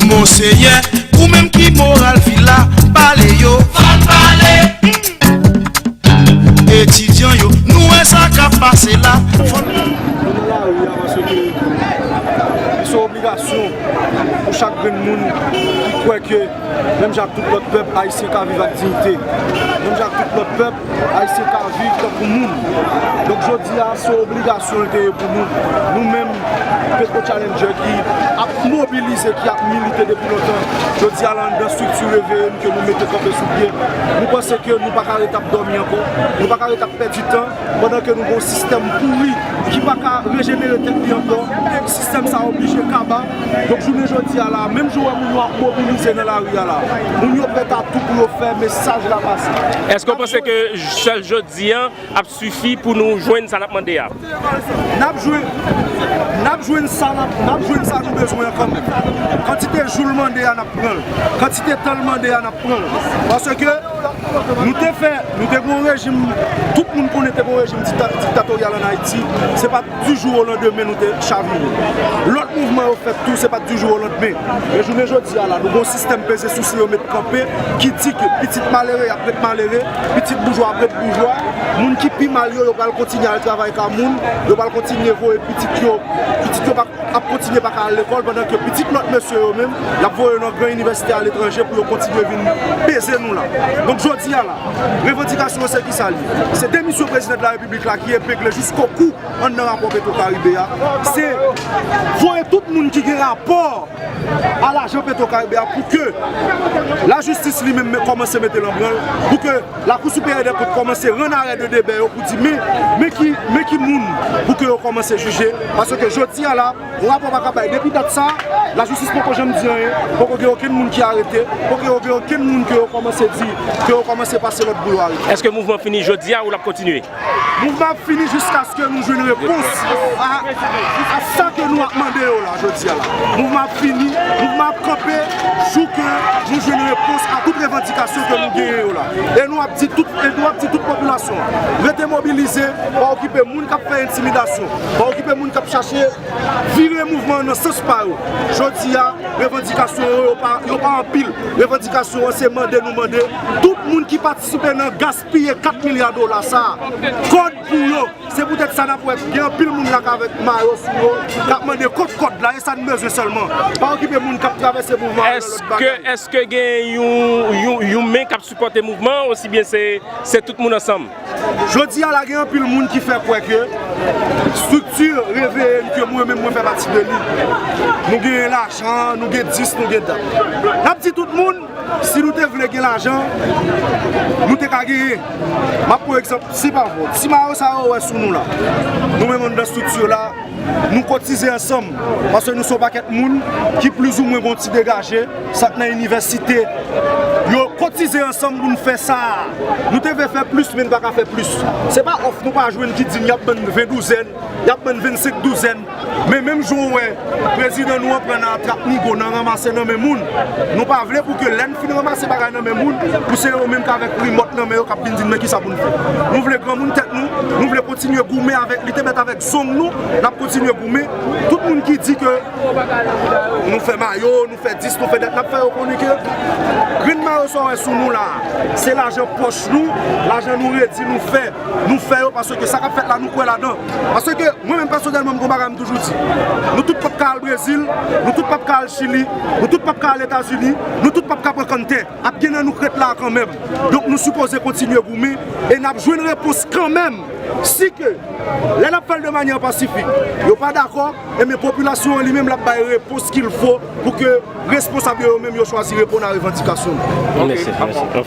Monseyè, ou menm ki moral vil la, pale yo. Fòk pale! Etidyan yo, nou wè sa k ap pase la. Fòk pale! Nou nan lari a paske ke li se obligasyon pou chak grenn moun ki kwè ke menm jan ak tout lòt pèp, Ayisyen ka viv ak diyite. Menm jan ak tout lòt pèp. Ayisyen ka viv tankou moun. Donk jodi a, se yon obligasyon li te ye pou nou. Nou menm Petro Challenger ki ap mobilize, ki ap milite depi lontan, jodi a la anndan strikti Reveye n ke nou mete kanpe sou pye, nou panse ke nou pa ka ret ap dòmi ankò, nou pa ka ret ap pèdi tan pandan ke nou gen yon sistèm pouri ki pa ka rejenere tèt li ankò. Sistèm sa a oblije kaba. Donk jounen jodi a la, menm jan ou wè moun yo ap mobilize nan lari a la, moun yo prèt a tou pou yo fè mesaj la pase. Èske ou panse ke sèl jodi a ap sifi pou nou jwenn sa n ap mande a? N ap jwenn, n ap jwenn sa nou bezwen an kanmenm. Kantite jou l mande a n ap pran l, kantite tan l mande a n ap pran l. Paske nou te fè, nou te gen yon rejim, tout moun konnen te gen yon rejim diktatoryal ann Ayiti. Du jour au lendemain nou te chavire. Lòt mouvman yo fèt tou, se pa t du jour au lendemain. Men jounen jodi a la, nou gen yon sistèm peze souse yo met kanpe ki di ke pitit malere y ap ret malere, pitit boujwa ap ret boujwa, moun ki pi mal yo, yo pral kontinye al travay ka moun, yo pral kontinye voye pitit yo, pitit yo ap kontinye pa ka al lekòl pandan ke pitit lòt mesye yo menm, y ap voye yo nan gran inivèsite aletranje pou yo kontinye vin peze nou la. Donk jodi a la, revandikasyon yo se ki sa l ye? Se demisyon Prezidan de la Repiblik. Piblik la ki epegle jisko kou anndan rapò Petro Karibe a, se voye tout moun ki gen rapò a lajan Petro Karibe a pou ke lajistis li menm kòmanse mete l an branl, pou ke Lakou Siperyè dè Kont kòmanse rann arè de debè yo pou di men, men ki moun pou ke yo kòmanse jije, paske jodi a la. Yon rapò pa ka bay. Depi dat sa, lajistis poko janm di anyen, poko gen okenn moun ki arete, poko gen okenn moun ke yo kòmanse di, ke yo kòmanse pase lòd pou yo arete. Eske mouvman fini jodi a ou lap kontinye? Mouvman ap fini jiskaske nou jwenn repons a sa ke nou ap mande yo la jodi a la. Mouvman ap fini, mouvman ap kanpe jou ke nou jwenn repons a tout revandikasyon ke nou genyen yo la. E nou ap di tout popilasyon an, rete mobilize, pa okipe moun kap fè entimidasyon, Pa okipe moun kap chache vire mouvman an nan sans pa yo. Jodi a, revandikasyon yo, yo pa anpil. Revandikasyon an se mande nou mande tout moun ki patisipe nan gaspiye 4 milya dola sa a, kòd pou yo. Se poutèt sa nap wè gen anpil moun la kavèk mayo sou yo kap mande kot kòd la, e sa n bezwen sèlman. Pa okipe moun kap travèse mouvman an nan lòt bagay. Eske gen yon men kap sipòte mouvman an osibyen se tout moun ansanm? Jodi a la gen anpil moun ki fè kwè ke strikti reveye n ke mwen menm mwen fè pati de li. Nou gen lajan, nou gen dis, nou gen dat. N ap di tout moun, si nou te vle gen lajan, nou te ka genyen. M ap pran egzanp, si pa vre, ti mayo sa yo ou wè sou nou la. Nou menm anndan strikti la, nou kotize ansanm, paske nou se yon pakèt moun ki plizoumwen gen yon ti degaje. Sa k nan inivèsite yo kotize ansanm pou n fè sa a. Nou te vle fè plis men n pa ka fè plis. Se pa òf nou pa jwenn ki di n y ap ban n ven douzèn, y ap ban n vennsenk douzèn. Men menm jan w wè prezidan nou an pran nan atrap nigo, nan ranmase nan men moun, nou pa vle pou ke lè n fin ranmase bagay nan men moun, pou se yo menm k avèk rimòt nan men yo k ap vin di n men ki sa pou n fè. Nou vle granmoun tèt nou, nou vle kontinye goumen avèk lite bèt avèk zong nou, n ap kontinye goumen. Tout moun ki di ke. Nou fè mayo, nou fè dis, nou fè dat, n ap fè yo konnen ke grenn mayo sa w wè sou nou la a, se lajan pòch nou, lajan nou redi nou fè, nou fè yo paske sa k ap fèt la nou kwè ladan. Paske mwen menm pèsonèlman m gen yon bagay m toujou di, nou tout p ap ka al Brezil, nou tout p ap ka al Chili, nou tout p ap ka al Etazini, nou tout p ap ka pran kann tè. Ap gen nan nou k ret la a kanmenm. Donk nou sipoze kontinye goumen e n ap jwenn repons kanmenm. Si ke lè n ap fè l de manyè pasifik, yo pa dakò, enben popilasyon an li menm l ap bay repons kilfo pou ke responsab yo yo menm yo chwazi reponn a revandikasyon nou.